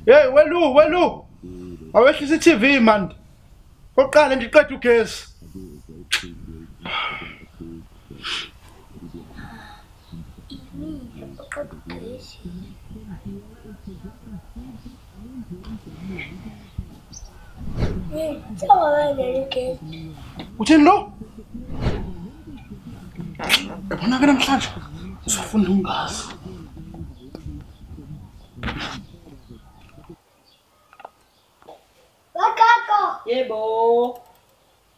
Hey welu welu. Awehlisa iTV man. Oqale nje iqeda ugesi. Ini, oqeda ugesi. uthini lo yabona ke namhlanje usafunda ungazi Bakako! Yebo!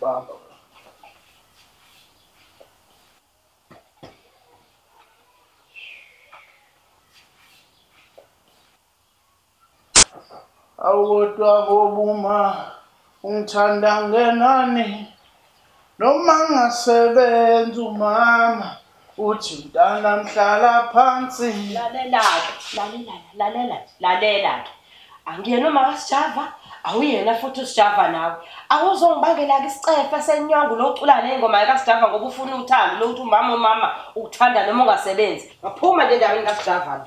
Baba. Awodwa ngobuma ungithanda ngenani noma ngasebenza umama uthi mntana mhlala phansi lalelake lalela lalela lalela ke angiyena umaka sijava awuyena futhi usijava nawe awuzongibangela-ke isicefe senyongo lo ucula ney'ngoma yakasijava ngoba ufuna uthando lokuthi umama umama ukuthanda noma ungasebenzi ngaphuma nje endaweni kasijava lo